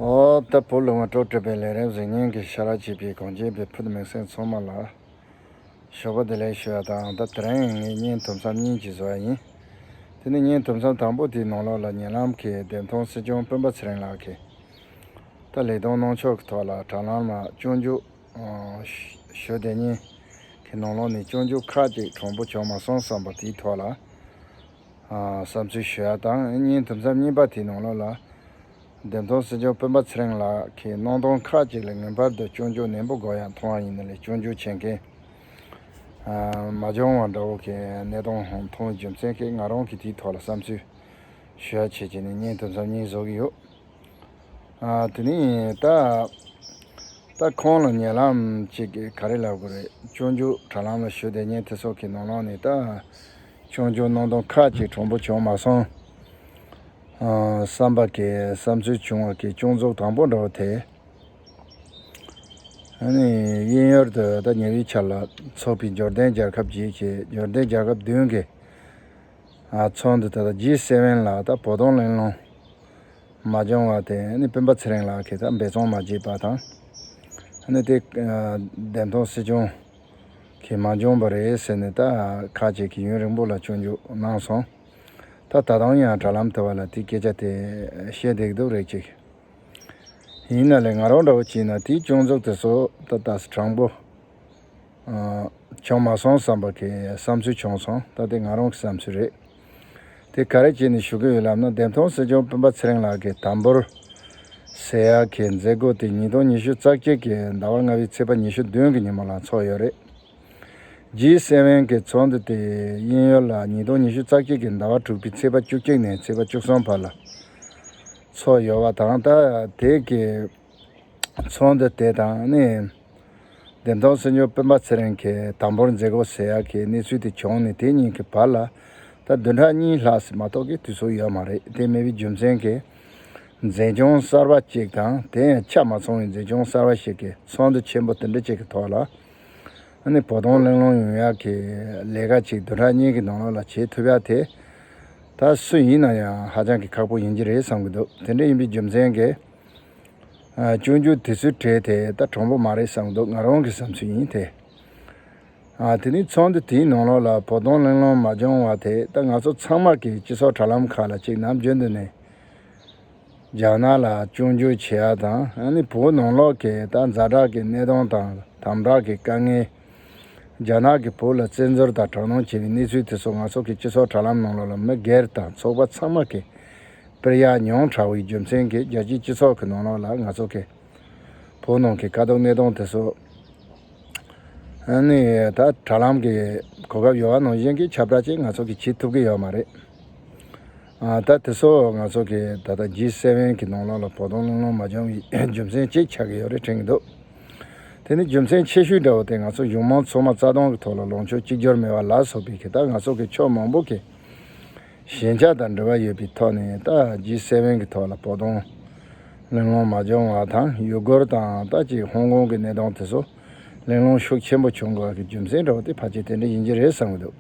ཨོ་ད་བུ་ལུང་བ་སྤྲོ་སྤྲོས་པའི་ལས་རན་གཟིགས་སྙན་གྱི་ཤ་ར་བྱིས་པའི་གངས་ཅན་པའི་ཕུ་ཐུ་མིག་སེང་འཚོང་མ་ལ། ཞོགས་པ་དེ་ལས་ཤི་བ་དང་ཨང་རྟ་དེ་རིང་ངའི་བརྙན་ཐུབ་མཚམས་གཉིས་ཀྱི་བཟོ་བ་ཡིན། དེ་ནི་བརྙན་ཐུབ་མཚམས་དང་པོ་དེའི་ནང་ལོགས་ལ་ཉེ་ལམ་གྱི་བདེན་མཐོང་སྲིད་སྐྱོང་སྤུན་པ་ཚེ་རིང་ལགས་ཀྱིས། ད་ལས་དོན་གནང་ཕྱོགས་ཀྱི་ཐོག་ལ་དྲ་ལམ་ལ་སྤྱོད་འཇུག་ཞུ་དེ་གཉིས་ཀྱི་ནང་ལོགས་ནས་སྤྱོད་འཇུག་ཁག་ཅིག་གྲངས་འབོར་བྱུང་མ་སོང་བསམ་པ་དེའི་ཐོག་ལ། བསམ་ཚུལ་ཞུ་ཡ་དང་གཉིས་དུམ་ཚབ་གཉིས་པ་དེའི་ནང་ལོགས་ལ། བདེན་དོན་སྲིད་སྐྱོང་སྤེན་པ་ཚེ་རིང་ལགས་ཀྱིས་གནང་དོན་ཁག་ཅིག་ལ་ངེས་པར་དུ་སྐྱོན་བརྗོད་ནན་པོ་དགོས་ཡག་མཐོང་བ་ཡིན་ནི་ལས་སྐྱོན་བརྗོད་བྱེད་མཁན་མ་འབྱོང་བ་འདྲ་བོ་གི་གནས་སྟངས་ཧང་མཐོང་བའི་རྒྱུ་མཚན་གིས་ང་རང་གིས་དེའི་ཐོག་ལ་བསམ་ཚུལ་ཞུ་ཡ་བྱེད་ཀྱི་ནི་གཉིས་དུམ་ཚབ་གཉིས་བཟོ་གི་ཡོད། དེ་ནི་ད་ལྟ་ཁོང་ལ་ཉེ་ལམ་ཅིག་གིས་ག་རེ་ལབ་དགོས་རེད་སྐྱོན་བརྗོད་དྲ་ལམ་ལ་ཞུས་དེ་གཉིས་དེ་སོགས་ཀྱི་ནང་ལོགས་ནས་ད་ཆུང་ཆུང་སྣང་སྟོང་ཁ་ཅིག་གྲུང་པོ་བྱུང་མ་སོང། བསམ་པ་གྱི་བསམ་ཚུལ་བྱུང་བ་གྱི་ཅུང་རྫོབ་དང་པོ་འདྲ་བོ་དེ། དབྱིན་ཡུལ་དུ་ཟླ་ཉི་བའི་ཆར་ལ་ཚོགས་པའི་འབྱོར་ལྡན་རྒྱལ་ཁབ་བརྒྱད་ཀྱི་འབྱོར་ལྡན་རྒྱལ་ཁབ་བདུན་གྱི་ཚོགས་འདུ་ད་ལྟ G7ལ་ད་བོ་དོང་གླེང་སློང་མ་བྱུང་བ་དེ་སྤུན་པ་ཚེ་རིང་ལགས་ཀྱིས་ད་འབད་བརྩོན་མ་བྱས་པ་དང། དེ་བདེན་མཐོང་སྲིད་བྱུང། ཁྱེད་མ་འབྱོངས་པ་རེད་ཟེར་ནས་ད་ཁ་བྱེད་ཀྱི་ཡུན་རིང་པོ་ལ་ཆོས་འཇུག་གནང་སོང། ད་ད་དུང་ཡང་དྲ་ལམ་དེ་བ་ལ་དེ་སྐད་ཆ་དེ་བཤད་བསྡད་ཀྱི་འདུག་རེད་ཅིག། ཡིན་ན་ལས་ང་རང་འདྲ་བོ་བྱིན་ན་དེའི་སྐྱོན་འཛུགས་དེ་ཚོ་ད་ད་དྲང་པོ། བྱུང་མ་སོང་བསམ་པ་གི་བསམ་ཚུལ་བྱུང་སོང་ད་དེ་ང་རང་གི་བསམ་ཚུལ་རེད། དེ་ག་རེ་བྱས་ནས་ཞུ་གི་ཡོད་ལབ་ན་བདེན་མཐོང་སྲིད་སྐྱོང་སྤུན་པ་ཚེ་རིང་ལགས་ཀྱིས་དམ་འབུར། Sea། གྱི་མཛད་སྒོ་དེ་ཉིས་སྟོང་ཉི་ཤུ་རྩ་གཅིག་གི་ཟླ་བ་ལྔ་བའི་ཚེས་པ་ཉི་ཤུ་བདུན་གྱི་ཉིན་མོ་ལ་འཚོགས་ཡོད་རེད། G7 གྱི་ཚོགས་འདུ་དེ་དབྱིན་ཡུལ་ལ་ཉིས་སྟོང་ཉི་ཤུ་རྩ་གཅིག་གི་ཟླ་བ་དྲུག་པའི་ཚེས་པ་བཅུ་གཅིག་ནས་ཚེས་པ་བཅུ་གསུམ་བར་ལ་འཚོགས་ཡོད་བ་དང། དེ་གའི། ཚོགས་འདུ་དེ་དང་ནི། བདེན་སྟོང་གསེར་མཆོག་དཔོན་པ་ཚེ་རིང་གིས་དང་པོར་མཛད་སྒོ་ཟེར་ཡག་གི་གནས་ཚུལ་དེ་བྱུང་ནས་དེ་གཉིས་ཀྱི་བར་ལ་ད་བདུན་ཕྲག་གཉིས་ལྷག་ཟིན་མ་གཏོགས་ཀྱི་དུས་ཚོད་ཡོད་མ་རེད་དེ་མེད་པའི་རྒྱུ་མཚན་གྱིས། མཛད་སྐྱོང་གསར་པ་གཅིག་དང་དེ་ཡང་ཆ་མ་ཚང་བའི་མཛད་སྐྱོང་གསར་པ་ཞིག་གིས་ཚོགས་འདུ་ཆེན་པོ་དེ་འདྲ་གཅིག་གི་ཐོག་ལ་ནི་བོ་དོང་གླེང་སློང་ཡོང་ཡག་གི་ལས་ཀ་གཅིག་བདུན་ཕྲག་གཉིས་ཀྱི་ནང་ལོགས་ལ་བྱེད་ཐུབ་ཡག་དེ་ད་སུ་ཡིན་ན་ཡང་ཧ་ཅང་གི་ཁག་པོ་ཡིན་གྱི་རེད་བསམ་གྱི་འདུག་དེ་འདྲ་ཡིན་པའི་རྒྱུ་མཚན་གྱིས། སྤྱོད་འཇུག་དེ་ཚོའི་གྲས་དེ་ད་གྲང་པོ་མ་རེད་བསམ་འདུག་ང་རང་གི་བསམ་ཚུལ་ཡིན་དེ། དེ་ནི་ཚོགས་འདུ་དེའི་ནང་ལོགས་ལ་བོགས་གཏོང་གླེང་སློང་མ་བྱུང་བ་དེ་ད་ང་ཚོ་ཚང་མར་གི་སྤྱི་ཚོགས་དྲ་ལམ་ཁག་ལ་གཅིག་ནམ་རྒྱུན་དུ་ནས་རྒྱ་ནག་ལ་སྤྱོད་འཇུག་བྱེད་ཡ་དང་ནི་བོད་ནང་ལོགས་ཀྱི་ད་འཛའ་དྲག་གི་གནས་སྟངས་དང་དམ་དྲག་གི་དཀའ་ངལ། རྒྱ་ནག་གི་བོད་ལ་བཙན་འཛུལ་དང་དྲག་གནོན་བྱས་པའི་གནས་ཚུལ་དེ་ཚོ་ང་ཚོ་གི་སྤྱི་ཚོགས་དྲ་ལམ་ནང་ལོགས་ལ་མི་སྒེར་དང་ཚོགས་པ་ཚང་མ་གི་པིར་ཡག་ཉུང་དྲགས་བའི་རྒྱུ་མཚན་གྱིས་རྒྱལ་སྤྱིའི་སྤྱི་ཚོགས་གི་ནང་ལོགས་ལ་ང་ཚོ་གི་བོད་ནང་གི་དཀའ་སྡུག་གནས་སྟངས་དེ་ཚོ་ནི་ད་དྲ་ལམ་གི་གོ་སྐབས་ཡོད་བ་ནང་བཞིན་གྱི་ཁྱབ་བསྒྲགས་ཅིག་ང་ཚོ་གི་བྱེད་ཐུབ་ཀྱི་ཡོད་མ་རེད། ད་དེ་ཚོ་ང་ཚོ་གི་ད་ལྟ G7གི་ནང་ལོགས་ལ་བོགས་གཏོང་བླུན་ལོང་མ་འབྱུང་བའི་རྒྱུ་མཚན་གཅིག་ཆགས་ཀྱི་ཡོད་རེད་དྲན་གྱི་འདུག་དེ་ནི་རྒྱུ་མཚན་ཆེ་ཤོས་འདྲ་བོ་དེ་ང་ཚོ་གཞུང་མང་ཚོགས་མ་རྩ་སྟོང་གི་ཐོག་ལ་ལོངས་སྤྱོད་གཅིག་གྱུར་མེད་པ་ལ་སོགས་པའི་གི་ད་ང་ཚོ་གི་ཕྱོགས་མང་པོ་གི་ཞན་ཆ་དང་འབྲེལ་བ་ཡོད་པའི་ཐོག་ནས་ད G7གི་ཐོག་ལ་བོགས་གཏོང་བླུན་ལོང་མ་འབྱུང་བ་དང་ཡུ་གུར་དང་ད་ཅིག་ཧོང་ཀོང་གི་གནས་སྟངས་དེ་ཚོ་གླེང་སློང་ཤུགས་ཆེན་པོ་བྱུང་སྐབས་ཀྱི་རྒྱུ་མཚན་འདྲ་བོ་དེ་ཕལ་ཆེར་དེ་འདྲ་ཡིན་གྱི་རེད་བསམ་གྱི་འདུག་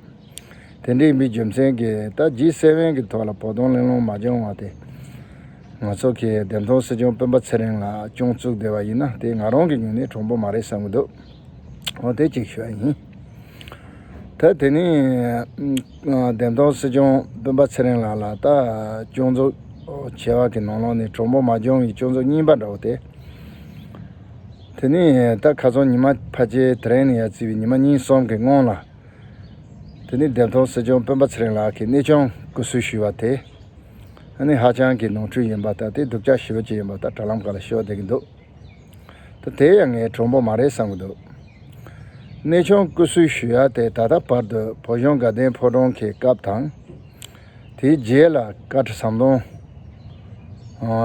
དེ་འདྲའི་མི་རྒྱུ་མཚན་གྱིས་ད་ཇི་སྲིད་བོན་གྱི་ཐོག་ལ་བོགས་གཏོང་གླེང་སློང་མ་བྱུང་བ་དེ། ང་ཚོ་གི་བདེན་མཐོང་སྲིད་སྐྱོང་སྤེན་པ་ཚེ་རིང་ལགས་སྐྱོང་བཙུགས་བསྡད་པ་ཡིན་ན་དེ་ང་རང་གི་ཉུང་ནས་གྲུང་པོ་མ་རེད་བསམ་གྱི་འདུག་འོ་དེ་གཅིག་ཤོས་ཡིན། ད་དེ་ནས་བདེན་མཐོང་སྲིད་སྐྱོང་སྤེན་པ་ཚེ་རིང་ལགས་ལ་ད་སྐྱོང་བཙུགས་བྱས་བ་གི་ནང་ལོགས་ནས་གྲུང་པོ་མ་སྐྱོང་བའི་སྐྱོང་བཙུགས་རྙིང་པ་འདྲ་བོ་དེ། དེ་ནས་ད་ག་ཚོང་ཉི་མ་ཕ་ཆེ་དེ་རིང་ནས་ཡར་བརྩིས་པའི་ཉི་མ་གཉིས་གསུམ་གྱི་སྔོན་ལ། དེ་ནི་འདེབས་ཐོག་སྲིད་སྐྱོང་སྤེན་པ་ཚེ་རིང་ལགས་ཀྱིས་གནས་ཆུང་སྐུ་བསུ་ཞུས་པ་དེ། ནི་ཧ་ཅང་གི་ནོར་འཁྲུལ་ཡིན་པ་ལྟ་སྟེ་སྡུག་ཅག་ཞི་བ་ཅི་ཡིན་པ་ལྟར་དྲ་ལམ་ག་ལ་ཤོད་བསྡད་ཀྱི་འདུག་ད་དེ་ཡང་ངའི་གྲོགས་པོ་མ་རེད་བསམ་གྱི་འདུག་གནས་ཆུང་སྐུ་བསུ་ཞུས་ཡ་དེ་ད་ལྟ་བར་དུ་བོད་གཞུང་དགའ་ལྡན་ཕོ་བྲང་གི་སྐབས་དང། དེའི་རྗེས་ལ་བཀའ་ཁྲི་ཟམ་གདོང་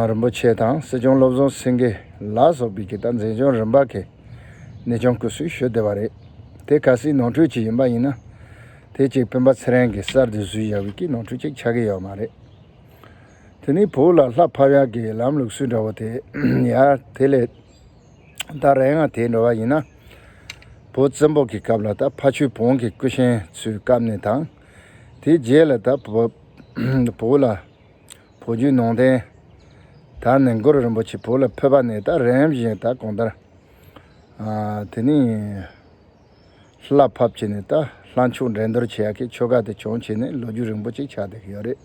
རིན་པོ་ཆེ་དང་སྲིད་སྐྱོང་བློ་བཟང་སེང་གེ་ལགས་སོགས་ཀྱིས་ཀྱི་ད་འཛིན་སྐྱོང་རིམ་པ་ཁའི་གནས་ཆུང་སྐུ་སྲུང་ཞུས་བསྡད་པ་རེད། དེ་ག་སྲིད་ནོར་འཁྲུལ་ཅིག་ཡིན་པ་ཡིན་ན། དེ་ཅིག་སྤེན་པ་ཚེ་རིང་གིས་གསར་དུ་བཟོས་བཞག་པའི་ཀྱི་ནོར་འཁྲུལ་ཅིག་ཆགས་ཀྱི་ཡོད་མ་རེད། དེ་ནི་བོད་ལ་ལྷ་ཕབ་ཡག་གི་ལམ་ལུགས་སུ་འདྲ་བོ་དེ་ཡག་དེ་ལས། ད་རེ་འང་དེ་འདྲ་བ་ཡིན་ན། བོད་བཙན་པོ་གི་སྐབས་ལ་ད་ཕ་ཆོས་བོང་གི་སྐུ་གཤེན་ཚོའི་སྐབས་ནས་དང། དེའི་རྗེས་ལ་ད་བོད་ལ་བོད་བརྒྱུད་ནང་བསྟན་ད་ནི་མགུར་རིན་པོ་ཆེ་བོད་ལ་ཕེབས་པ་ནས་ད་རིམ་བཞིན་ད་གོང་ལྟར་དེ་ནས་ལྷ་ཕབ་བྱས་ནས་ད་ལྷ་མཆོག་འགྲན་བསྡུར་བྱེད་ཡག་གི་ཆོ་ག་དེ་བྱུང་བྱས་ནས་ལོ་རྒྱུས་རིང་པོ་ཅིག་ཆགས་བསྡད་ཀྱི་ཡོད་རེད།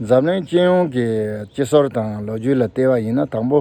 འཛམ་གླིང་སྤྱི་ཡོངས་ཀྱི་སྤྱི་ཟོར་དང་ལོ་རྒྱུས་ལ་བལྟས་པ་ཡིན་ན་དང་པོ་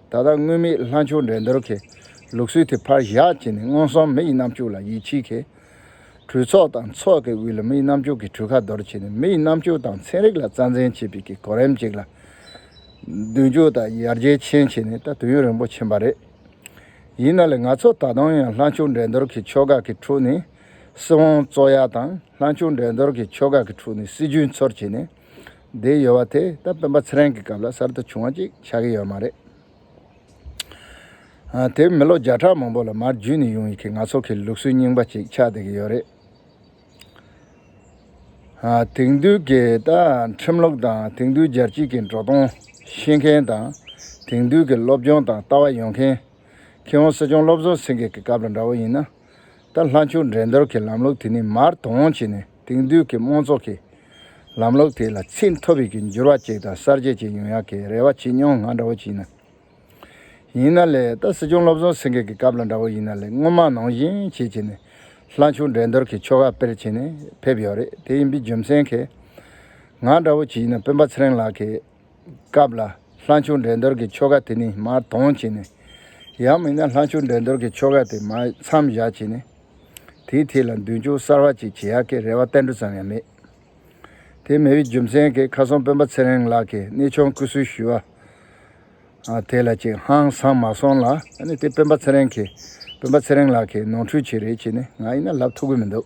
ད་ལྟ་དངོས་མེད་ལྷ་མཆོག་འགྲན་བསྡུར་གྱི་ལུགས་སྲོལ་དེ་ཕར་བཞག་བྱས་ནས་སྔོན་སོང་མི་ཡི་རྣམ་སྤྱོད་ལ་ཡིད་ཆེས་གལ། གྲོས་ཚོགས་དང་ཚོགས་ཀྱི་དབུས་ལ་མི་ཡི་རྣམ་སྤྱོད་ཀྱི་གྲོས་ཁ་འདོར་བྱས་ནས་མི་ཡི་རྣམ་སྤྱོད་དང་ཚན་རིག་ལ་རྩ་འཛིན་བྱེད་པའི་གི་གོ་རིམ་ཅིག་ལ། མདུན་སྐྱོད་དང་ཡར་རྒྱས་ཆེན་བྱས་ནས་ད་དུས་ཡུན་རིང་པོ་ཕྱིན་པ་རེད། ཡིན་ན་ལས་ང་ཚོ་ད་དུང་ཡང་ལྷ་མཆོག་འགྲན་བསྡུར་གྱི་ཕྱོགས་ཁག་གི་ཁྲོད་ནས་སྲིད་དབང་བཙོག་ཡ་དང་ལྷ་མཆོག་འགྲན་བསྡུར་གྱི་ཕྱོགས་ཁག་གི་ཁྲོད་ནས་སྲིད་ཇུས་འཚོལ་བྱས་ནས། དེའི་ཡོལ་བ་དེ་ད་སྤེན་པ་ཚེ་རིང་གི་སྐབས་ལ་གསར་དུ་བྱུང་བ་ཅིག་ཆགས་ཀྱི་ཡོད་མ་རེད། དེ་མི་ལོ་བརྒྱ་ཕྲག་མང་པོ་ལ་མར་བརྒྱུད་ནས་ཡོང་ཡི་གེ་ང་ཚོ་གི་ལུགས་སྲོལ་རྙིང་པ་ཅིག་ཆགས་བསྡད་ཀྱི་ཡོད་རེད། དེང་དུས་ཀྱི་ད་ཁྲིམས་ལུགས་དང་དེང་དུས་རྒྱལ་སྤྱིས་ཀྱི་འགྲོ་སྟངས་ཤེས་མཁན་དང་དེང་དུས་ཀྱི་སློབ་སྦྱོང་དང་ལྟ་བ་ཡོང་མཁན། ཁྱེད་ཧོང་སི་ཅོང་སློབ་ཟུར་སེང་གེ་གི་སྐབས་ལ་འདྲ་བོ་ཡིན་ན། ལྟར་ལྷ་མཆོད་འགྲན་བསྡུར་གྱི་ལམ་ལུགས་དེ་ནི་མར་དོ་འོང་བྱས་ནས་དེང་དུས་ཀྱི་དམངས་གཙོ་གི་ལམ་ལུགས་དེ་ལ་ཚད་མཐོ་བའི་གི་འགྱུར་བ་ཅིག་དང་གསར་བརྗེ་ཅིག་ཡོང་ཡག་གི་རེ་བ་བྱེད་མྱོང་ང་འདྲ་བོ་གྱིས་ན། ཡིན་ན་ལེ་ད་སྲིད་སྐྱོང་བློ་བཟང་སེང་གེ་གི་སྐབས་ལ་འདྲ་བོ་ཡིན་ན་ལེ་སྔོན་མ་ནང་བཞིན་བྱེད་བྱས་ནས་ལྷ་མཆོད་འགྲན་བསྡུར་གྱི་ཆོ་ག་སྤེལ་བྱས་ནས་ཕེབས་ཡོད་རེད་དེ་ཡིན་པའི་རྒྱུ་མཚན་གིས། ང་འདྲ་བོ་གྱིས་ན་སྤུན་པ་ཚེ་རིང་ལགས་ཀྱིས། སྐབས་ལ། ལྷ་མཆོག་འགྲན་བསྡུར་གྱི་ཆོ་ག་དེ་ནི་མར་དོང་བྱས་ནས། ཡང་མིན་ན་ལྷ་མཆོག་འགྲན་བསྡུར་གྱི་ཆོ་ག་དེ་མར་མཚམས་བཞག་བྱས་ནས། དེའི་ཐད་ལ་མདུན་ཅོག་གསར་བ་ཅིག་བྱེད་ཡག་གི་རེ་བ་གཏན་འགྲོ་ཙམ་ཡང་མེད། དེ་མི་བའི་རྒྱུ་མཚན་གྱིས་ཁ་སང་སྤུན་པ་ཚེ་རིང་ལགས་ཀྱིས་གནས་ཆུང་བསྐུལ་གསོལ་ཞུས་བ་དེ་ལ་ཅིག་ཧང་སང་མ་སོང་ལ། ཨ་ནི་དེ་སྤུན་པ་ཚེ་རིང་གིས་སྤུན་པ་ཚེ་རིང་ལགས་ཀྱིས་ནོར་འཁྲུལ་ཅིག་རེད་བྱས་ནས་ང་ཡིན་ན་ལབ་ཐུབ་གི་མི་འདུག།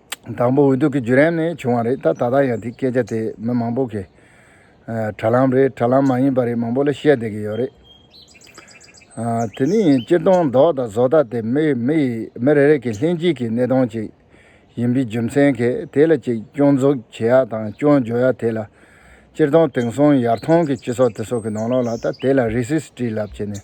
དང་པོ་འོས་བསྡུ་གི་བརྒྱུད་རིམ་ནས་བྱུང་བ་རེད་ད་ལྟ་ཡང་དེ་སྐད་ཆ་དེ་མི་མང་པོ་གི་དྲ་ལམ་རེད་དྲ་ལམ་མ་ཡིན་པ་རེད་མང་པོ་ལ་བཤད་བསྡད་ཀྱི་ཡོད་རེད། དེ་ནི་ཡིན་སྤྱིར་བཏང་མདོག་དང་བཟོ་ལྟ་དེ་མི་མི་རེ་རེ་གི་ལྷན་སྐྱེས་ཀྱི་གནས་སྟངས་ཅིག་ཡིན་པའི་རྒྱུ་མཚན་གྱིས་དེ་ལ་ཅིག་སྐྱོན་འཛུགས་བྱེད་ཡག་དང་སྐྱོན་བརྗོད་ཡག་དེ་ལ་སྤྱིར་བཏང་དེང་སང་ཡར་ཐོན་གྱི་སྤྱི་ཚོགས་དེ་སོགས་ཀྱི་ནང་ལོགས་ལ་ད་དེ་ལ་རེ་སིས་ཏྲིས་ལབ་བྱས་ནས།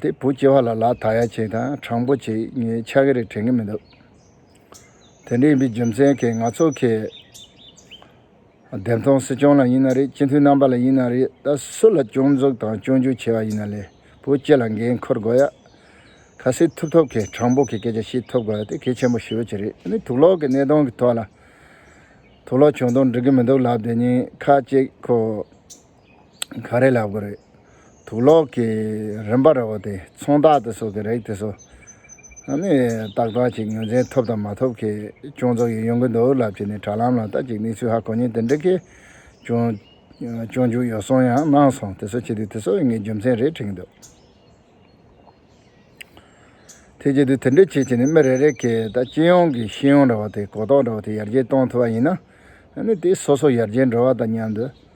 དེ་བུ་སྐྱེས་བ་ལ་ལ་དག་ཡ་བྱེད་དང་དྲང་པོ་བྱེད་ངས་ཆ་ག་རེ་དྲན་གི་མི་འདུག་དེ་འདྲ་ཡིན་པའི་རྒྱུ་མཚན་གྱིས་ང་ཚོ་གི་བདེན་སྟོང་སྲིད་སྐྱོང་ལ་ཡིན་ན་རེད་སྤྱི་འཐུས་རྣམ་པ་ལ་ཡིན་ན་རེད་ད་སུ་ལ་སྐྱོང་འཛུགས་དང་སྐྱོང་རྒྱུ་བྱས་བ་ཡིན་ན་ལས་བུ་སྐྱེས་ལ་འགན་འཁུར་དགོས་ཡ། ག་སྲིད་ཐུབ་ཐོབ་གི་དྲང་པོ་གི་སྐད་ཆ་ཞིག་ཐུབ་དགོས་ཡ་དེ་གལ་ཆེན་པོ་ཞེ་བོ་ཅི་རེད་ནི་དུག་ལོག་གི་གནས་སྟོང་གི་ཐོག་ལ་དུག་ལོག་བྱུང་དོག་འགྲིག་གི་མི་འདུག་ལབ་དེ་གཉིས་ཁ་གཅིག་གོ། ག་རེ་ལབ་གི་རེད། དུག་ལོག་གི་རིམ་པ་རེ་བ་དེ་ཚོང་བདག་དེ་ཚོ་གི་རེད་དེ་ཚོ་ནི་ཏག་ཏག་ཅིག་ངོས་འཛིན་ཐུབ་དང་མ་ཐུབ་གི་ཅུང་ཚོད་ཡོད་ཡོང་གི་འདུག་ལབ་ཀྱི་ནི་དྲ་ལམ་ལ་ལྟ་ཅིག་གནས་ཚུལ་ཧ་གོ་ཉེན་དེ་འདྲ་གི་ཅུང་ཅུང་འཇུག་ཡོད་སོང་ཡང་གནང་སོང་དེ་ཚོ་བྱེད་དུས་དེ་ཚོ་ངའི་རྒྱུ་མཚན་རེད་དྲིས་འདུག་དེ་བྱེད་དུས་དེ་འདྲ་བྱེད་ཀྱི་ནི་མི་རེ་རེ་གི་ད་སྤྱི་ཡོངས་ཀྱི་ཤེས་ཡོན་རེ་བ་དེ་གོ་རྟོགས་རེ་བ་དེ་ཡར་རྒྱས་གཏོང་ཐུབ་པ་ཡིན་ན་ནི་དེ་སོ་སོ་ཡར་རྒྱས་འགྲོ་བ་དང་མཉམ་དུ།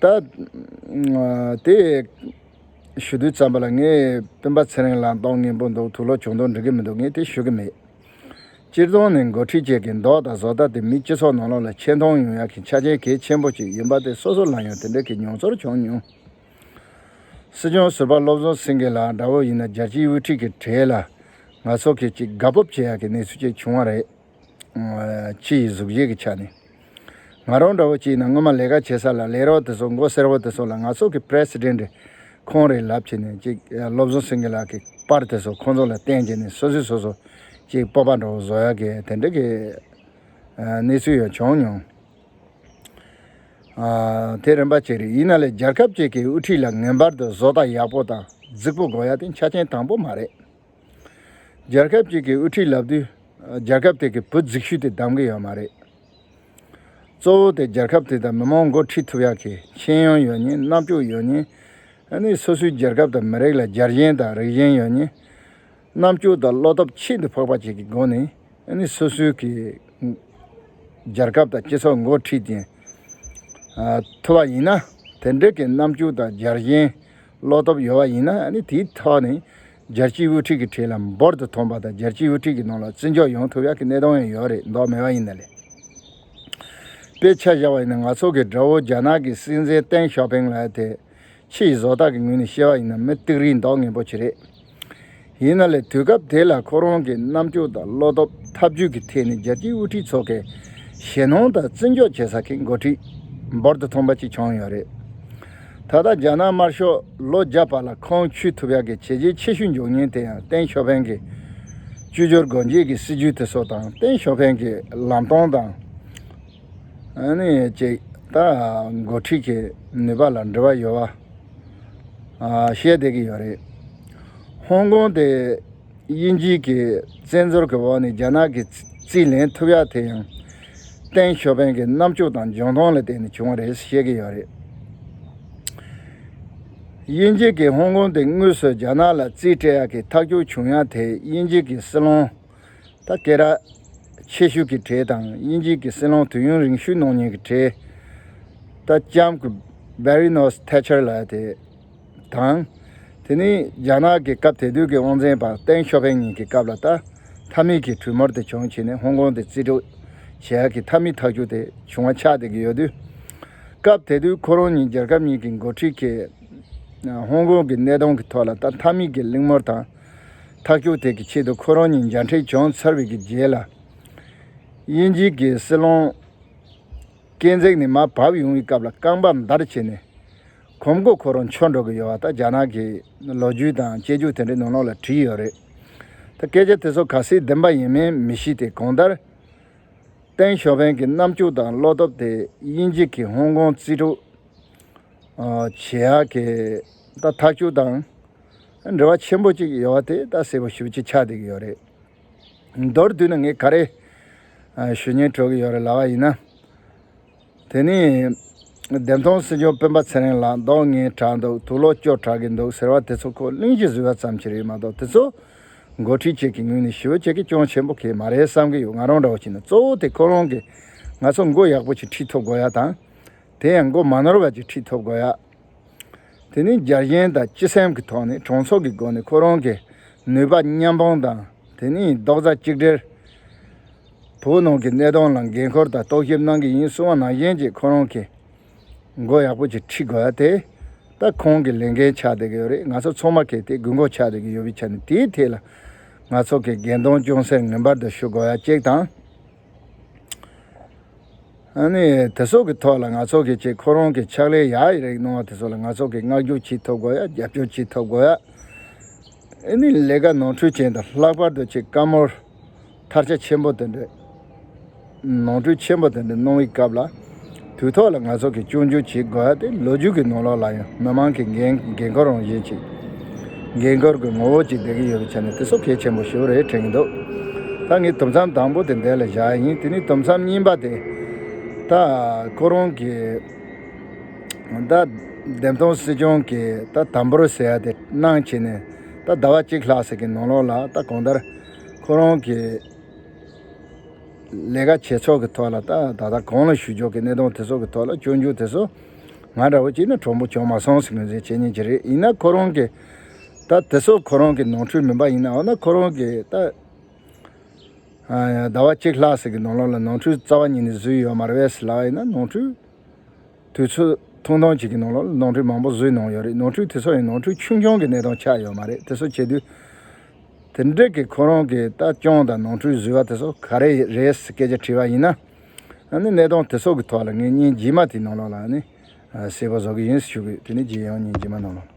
ད་དེ་ཞུ་དུས་ཙམ་པ་ལ་ངས་སྤུན་པ་ཚེ་རིང་ལ་མདོག་ངན་པོ་འདུག་དུ་ལོ་བྱུང་དོགས་འདྲི་གི་མི་འདུག་ངས་དེ་ཞུ་གི་མེད། སྤྱིར་བཏང་ནས་འགོ་ཁྲིད་བཅས་ཀྱི་མདོག་དང་བཟོ་ལྟ་དེ་མི་སྤྱི་ཚོགས་ནང་ལོགས་ལ་ཆེ་མཐོང་ཡོང་ཡག་གི་ཆ་རྐྱེན་གལ་ཆེན་པོ་གཅིག་ཡིན་པ་དེ་སོ་སོ་ལ་ཡང་དེ་འདྲ་གི་མྱོང་ཚོར་བྱུང་མྱོང། སྲིད་སྐྱོང་ཟུར་པ་བློ་བཟང་སེང་གེ་ལགས་འདྲ་བོ་ཡིན་ན་རྒྱལ་སྤྱིའི་དབུ་ཁྲིད་ཀྱི་གྲས་ལ་ང་ཚོ་གིས་གཅིག་དགའ་སྤོབས་བྱེད་ཡག་གི་གནས་ཚུལ་བཅས་བྱུང་བ་རེད། སྤྱི་ཡི་གཟུགས་གཞི་གི་ཆ་ནས། ང་རང་འདྲ་བོ་ཅིག་ན་སྔོན་མ་ལས་ཀ་བྱེད་ས་ལ་ལས་རོགས་དེ་ཚོ་མགོ་སེར་བོ་དེ་ཚོ་ལ་ང་ཚོ་གི President རེད་ཁོང་རེད་ལབ་བྱེད་ནས་ཅིག་བློ་བཟང་སེང་གེ་ལགས་གི་པར་དེ་ཚོ་ཁོང་ཚོ་ལ་བསྟན་བྱེད་ནས་སོ་སོས་སོ་སོ་ཅིག་སྤོབས་པ་འདྲ་བོ་བཟོ་ཡག་གི་དེ་འདྲ་གི་གནས་ཚུལ་ཡང་བྱུང་མྱོང། དེ་རིམ་པ་གཅིག་རེད་ཡིན་ན་ལས་རྒྱལ་ཁབ་ཅིག་གི་དབུ་ཁྲིད་ལ་ངེས་པར་དུ་བཟོ་ལྟ་ཡག་པོ་དང་རྫིག་པོ་དགོས་ཡ་དེ་ཆ་ཆེན་དང་པོ་མ་རེད། རྒྱལ་ཁབ་ཅིག་གི་དབུ་ཁྲིད་ལབ་དུས། རྒྱལ་ཁབ་དེ་གི་བུ་རྫིག་ཤུལ་དེ་གདམ་གི་ཡོད་མ་རེད། གཙོ་བོ་དེ་རྒྱལ་ཁབ་དེ་དང་མི་མང་འགོ་ཁྲིད་ཐུབ་ཡག་གི་ཤེས་ཡོན་ཡོད་ཉིན་རྣ་བཅུག་ཡོད་ཉིན། ནི་སོ་སོའི་རྒྱལ་ཁབ་དང་མི་རིགས་ལ་རྒྱལ་ཞེན་དང་རིགས་ཞེན་ཡོད་ཉིན། རྣ་བཅུག་དང་བློ་སྟོབས་ཆེད་དུ་ཕག་པ་བྱེད་གི་སྒོ་ནི། ནི་སོ་སོའི་གི། རྒྱལ་ཁབ་དང་སྤྱི་ཚོགས་འགོ་ཁྲིད་ཀྱིན། ཐུབ་བ་ཡིན་ན། དེ་འདྲི་གི་རྣ་བཅུག་དང་རྒྱལ་ཞེན། བློ་སྟོབས་ཡོད་བ་ཡིན་ན་ནི་དེའི་ཐོག་ནི། རྒྱལ་སྤྱིའི་དབུ་ཁྲིད་ཀྱི་ཁྲིད་ལམ་འབུར་དུ་ཐོན་པ་དང་རྒྱལ་སྤྱིའི་དབུ་ཁྲིད་ཀྱི་ནང་ལ་བརྩི་འཇོག་ཡོང་ཐུབ་ཡག་གི་གནད་དོན་ཡང་ཡོད་རེད་མདོག་མེད་པ་ཡིན་ན་ལེ། དཔེ་ཆ་བཞག་པ་ཡིན་ན་ང་ཚོ་གི་དགྲ་བོ་རྒྱ་ནག་གི་སྲིད་འཛིན་ཏེང་ཞའོ་པེང་ལགས་དེ། ཕྱི་ཡི་བཟོ་ལྟ་གི་ངོས་ནས་བཤད་པ་ཡིན་ན་མི་རྟིག་རིགས་མདོག་ངན་པོ་ཆེ་རེད། ཡིན་ན་ལེ་དུས་སྐབས་དེ་ལ་ཁོ་རང་གི་རྣམ་དཔྱོད་དང་བློ་སྟོབས་ཐབས་ཇུས་ཀྱི་ཐད་ནས་རྒྱལ་སྤྱིའི་དབུ་ཁྲིད་ཚོ་གའི་ཞེ་སྣང་དང་བརྩི་འཇོག་བྱེད་ས་ཀྱི་འགོ་ཁྲིད་འབུར་དུ་ཐོན་པ་ཅིག་ཆགས་ཡོད་རེད། ད་ལྟ་རྒྱ་ནག་དམར་ཤོག་ལོ་བརྒྱ་པ་ལ་ཁོང་ཆུད་ཐུབ་ཡག་གི་བྱས་རྗེས་ཆེ་ཤོས་འབྱུང་ཉེན་དེ་ཡང་ཏེང་ཞོ་ཕེང་གི་བཅོས་སྒྱུར་སྒོ་འབྱེད་ཀྱི་སྲིད་ཇུས་དེ་སོགས་དང་ཏེང་ཞོ་ཕེང་གི་ལམ་སྟོན་དང། བཅས་དང་འགོ་ཁྲིད་ཀྱི་ནུས་པ་ལ་འབྲེལ་བ་ཡོད་པ་ཤེས་བསྡད་ཀྱི་ཡོད་རེད། ཧོང་ཀོང་དེ། དབྱིན་ཇི་གི་བཙན་འཛུལ་གྱི་འོག་ནས་རྒྱ་ནག་གི་རྩིས་ལེན་ཐུབ་ཡག་དེ་ཡང། ཏེང་ཞོ་ཕེན་གྱི་རྣམ་དཔྱོད་དང་འཇོན་ཐང་ལ་བརྟེན་ནས་བྱུང་བ་རེད་བཤད་ཀྱི་ཡོད་རེད། དབྱིན་ཇི་གིས་ཧོང་ཀོང་དེ་དངོས་སུ་རྒྱ་ནག་ལ་རྩིས་སྤྲད་ཡག་གི་ཐག་གཅོད་བྱུང་ཡག་དེ་དབྱིན་ཇི་གི་སྲིད་བློན། ཐ་ཀེ་ར། ཆེ་ཤོས་ཀྱི་གྲས་དང་དབྱིན་ཇི་གི་སྲིད་བློན་དུས་ཡུན་རིང་ཤོས་ནང་ཉིན་གྱི་གྲས། ལྟ་ལྕམ། Baroness Thatcher ལགས་དེ། དང། དེ་ནི་རྒྱ་ནག་གི་སྐབས་དེ་དུས་ཀྱི་དབང་འཛིན་པ་ཏེང་ཞོ་ཕེང་གཉིས་ཀྱི་སྐབས་ལ་ལྟ་མཐའ་མིག་གི་གྲུ་མོར་དེ་བྱུང་ཕྱིན་ནི་ཧོང་ཀོང་དེ་རྩིས་སྤྲོད་བྱེད་ཡག་གི་མཐའ་མིག་ཐག་གཅོད་དེ་བྱུང་བ་ཆགས་བསྡད་ཀྱི་ཡོད་དུས། སྐབས་དེ་དུས་ཁོ་རང་ཉིད་རྒྱལ་ཁབ་གཉིས་ཀྱི་འགོ་ཁྲིད་ཀྱིས་ཧོང་ཀོང་གི་གནས་སྟངས་ཀྱི་ཐོག་ལ་ལྟ་མཐའ་མིག་གི་གླེང་མོལ་དང་ཐག་གཅོད་ཐད་ཀྱི་ཆེད་དུ་ཁོ་རང་ཉིད་འཇའ་འཕྲེང་བྱང་ཚར་བའི་གི་རྗེས་ལ། དབྱིན་ཇི་གི་སྲིད་བློན་ཀེན་ཛེག་ནི་མར་བབས་ཡོང་བའི་སྐབས་ལ་རྐང་པ་འདར་བྱས་ནས། གོམ་སྒོ་ཁོ་རང་འཆོར་འགྲོ་གི་ཡོད་བ་ད་རྒྱ་ནག་གི་ལོ་རྒྱུས་དང་སྐྱེ་རྒྱུགས་དེ་འདྲའི་ནང་ལོག་ལ་བྲིས་ཡོད་རེད། ད་སྐད་ཆ་དེ་ཚོ་ག་སྲིད་བདེན་པ་ཡིན་མིན་མི་ཤིས་ཏེ་གང་ལྟར། ཏེང་ཞོ་ཕེན་གྱི་རྣམ་སྤྱོད་དང་བློ་སྟོབས་དེ་དབྱིན་ཇི་གི་ཧོང་ཀོང་རྩིས་དྲུག། བྱེ་ཧ་ཀེ། ད་ཐག་ཆུ་དང་འབྲེལ་བ་ཆེན་པོ་གཅིག་ཡོད་བ་དེ་ད་གསལ་པོ་ཞུ་ཅི་ཆགས་བསྡད་ཀྱི་ཡོད་རེད། མདོར་བསྡུས་ན་ངས་ག་རེ་ཞུ་ཉེན་དྲོ་གི་ཡོད་རེད་ལབ་བ་ཡིན་ན། དེ་ནས། བདེན་སྟོང་སྲིད་འབྱོར་སྤེན་པ་ཚེ་རིང་ལགས་མདོག་ངན་དྲགས་འདུག་དུག་ལོག་སྐྱོ་དྲགས་གི་འདུག་ཟེར་བ་དེ་ཚོ་ཁོ་གླིང་གཞི་བཟོས་པ་ཙམ་གྱིས་རེད་མ་གཏོགས་དེ་ཚོ། འགོ་ཁྲིད་བཅས་ཀྱི་ངོས་ནས་ཞི་བ་བཅས་ཀྱི་སྐྱོན་ཆེན་པོ་གས་མ་རེད་བསམ་གྱི་ཡོད་ང་རང་འདྲ་བོ་ཅིག་ནི་གཙོ་བོ་དེ་ཁོ་རང་གིས་ང་ཚོ་མགོ་ཡག་པོ་ཅིག་ཁྲིད་ཐུབ་དགོས་ཡ་དང། དེ་ཡང་མགོ་མ་ནོར་བ་ཅིག་ཁྲིད་ཐུབ་དགོས་ཡ། དེ་ནི་རྒྱ་གཞན་དང་སྤྱི་སེམས་ཀྱི་ཐོག་ནས་གྲོང་ཚོགས་ཀྱི་སྒོ་ནས་ཁོ་རང་གིས་ནུས་པ་མཉམ་སྤུངས་དང་དེ་ནས་རྡོག་རྩ་གཅིག་སྒྲིལ། བོད་ནང་གི་གནས་སྟངས་ལ་འགན་ཁུར་དང་རྟོག་ཞིབ་གནང་གི་ཡིན་གསུང་བ་ནང་བཞིན་གྱིས་ཁོ་རང་གིས་མགོ་ཡག་པོ་ཅིག་ཁྲིད་དགོས་ཨ་དེ་ད་ཁོང་གི་ལས་འགན་ཆགས་བསྡད་ཀྱི་ཡོད་རེད་ང་ཚོ་ཚོགས་མ་གལ་ཏེ་དགོས་མཁོ་ཆགས་བསྡད་ཀྱི་ཡོད་པའི་ཆ་ནས་དེའི་ཐད་ལ་ང་ཚོ་གིས་འགན་གདོང་ཅུང་ཟད་ངན་པར་དུ་ཞུ་དགོས་ཡ་གཅིག་དང། དེ་སོགས་ཀྱི་ཐོག་ལ་ང་ཚོ་གིས་ཅིག་ཁོ་རང་གིས་ཕྱག་ལས་ཡག་ཡིག་རིགས་གནང་བ་དེ་ཚོ་ལ་ང་ཚོ་གིས་བསྔགས་བརྗོད་བྱེད་ཐུབ་དགོས་ཡ་རྒྱབ་སྐྱོར་བྱེད་ཐུབ་དགོས་ཡ། ཨཱ་ནི་ལས་ཀ་ནོར་འཁྲུལ་ཅན་དང་ལྷག་པར་དུ་ཅིག་བཀའ་མོལ་མཐར་ཆ་ཆེན་པོ་དེ་འདྲའི་ནོར་འཁྲུལ་ཆེན་པོ་དེ་འདྲ་གནང་བའི་སྐབས་ལ། དུས་ཐོག་ལ་ང་ཚོ་གིས་སྐྱོན་བརྗོད་བྱེད་དགོས་ཏེ་ལོ་རྒྱུས་ཀྱི་ནོར་ལོག་ལ་ཡང་མི་མང་གི་འགན་འགན་ཁུར་རང་བཞིན་གྱི། འགན་ཁུར་གྱི་ངོ་བོ་གཅིག་ལྡན་གྱི་ཡོད་པའི་ཆ་ནས་དེ་སོགས་གལ་ཆེན་པོ་ཞིག་རེད་དྲན་གྱི་འདུག་ད་ངས་དུམ་མཚམས་དང་པོ་དེ་འདས་ལ་བཞག་ཡིན་དེ་ནས་དུམ་མཚམས་གཉིས་པ་དེ། ད་ཁོ་རང་གི། ད་བདེན་དོན་སྲིད་སྐྱོང་གི་ད་དམ་པོར་ཟེར་ཡ་དེ་གནང་བྱས་ནས་ད་ཟླ་བ་གཅིག་ལྷག་ཟིག་གི་ནང་ལོག་ལ་ད་གང་ལྟར། ཁོ་རང་གི་ལས་ཀ་བྱེད་ཕྱོགས་ཀྱི་ཐོག་ལ་དང་ད་ལྟ་གང་ལ་ཞུ་ཕྱོགས་ཀྱི་གནས་སྟངས་དེ་ཚོ་གི་ཐོག་ལ་སྤྱོད་འཇུག་དེ་ཚོ་ང་འདྲ་བོ་གཅིག་ནི་གྲོགས་པོ་བྱུང་མ་སོང་ཟེར་མི་ཟེར་བྱེད་ཉན་གྱི་རེད་ཡིན་ན་ཁོ་རང་གི་ད་དེ་ཚོ་ཁོ་རང་གི་ནང་ཁྲོལ་མིན་པ་ཡིན་ན་འོ་ན་ཁོ་རང་གི་ད་ཟླ་བ་གཅིག་ལྷག་ཟིག་གི་ནང་ལོགས་ལ་ནང་ཁྲོལ་རྩ་བ་ཉིད་ནས་བཟོས་ཡོད་མ་རེད་བས་ཟེར་ལགས་ཡིན་ན་ནང་ཁྲོལ་དུས་ཚོད་ཐུང་ཐུང་ཅིག་གི་ནང་ལོགས་ལ་ནང་ཁྲོལ་མང་པོ་བཟོས་གནང་ཡོད་རེད་ནང་ཁྲོལ་དེ་ཚོ་ཡང་ནང་ཁྲོལ་ཆུང་ཆུང་གི་གནས་སྟངས་ཆགས་ཡོད་མ་རེད་དེ་ཚོ་བྱེད་དུས། དེ་འབྲེལ་གྱི་ཁོ་རང་གི་ལྟ་སྐྱོང་དང་ནོར་འཁྲུལ་བཟོས་པ་དེ་ཚོ་ག་རེ་རེད་སྐད་ཆ་དྲིས་པ་ཡིན་ན། གནད་དོན་དེ་ཚོ་གི་ཐོག་ལ་ངས་ཉིན་རྗེས་མ་དེའི་ནང་ལོགས་ལ་གསལ་པོ་བཟོ་གི་ཡིན་ཞུ་གི་དེ་ནས་རྗེས་ཡོང་ཉིན་རྗེས་མ་ནང་ལོགས་ལ།